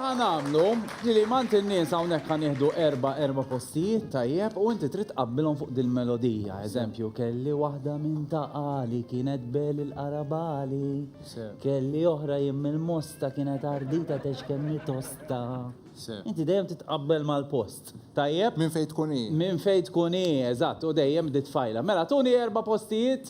Ħa nagħmlu li mant in-nies hawnhekk ħa nieħdu erba' erba' postijiet tajjeb u inti trid tqabbilhom fuq dil-melodija. Eżempju, kelli waħda minn ta' qali kienet bel il-qarabali. Kelli oħra jien mill-mosta kienet ardita tex kemm hi tosta. Inti dejjem titqabbel mal-post. Tajjeb? Minn fejn tkun hi. Minn fejn tkun hi, eżatt, u dejjem ditfajla. Mela tuni erba' postijiet.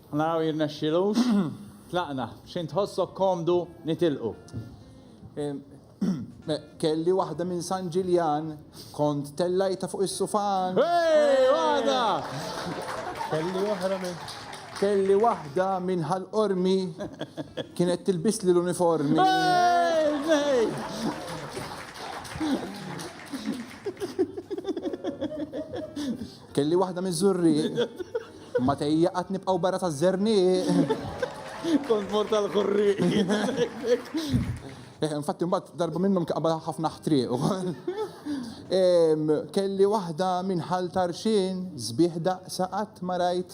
Naraw jirnexxilux. Tlaqna. B'xejn tħossok komdu nitilqu. Kelli waħda minn San Ġiljan, kont tellajtha fuq is-sufan. Hey! Waħda! Kelli oħra minn. Kelli waħda minn Ħal Qormi, kienet tilbisli l-uniformi. Hey! Hey! Kelli waħda miż-żurrieq. Ma tejja qatt nibqgħu barra taż-żernieq. Kont mort għall-ħurrieq jien. Eh, infatti mbagħad darba minnhom kaqba ħafna ħtrieq ukoll. Kelli waħda minn ħal tarxin, sbieħ daqsa qatt ma rajt.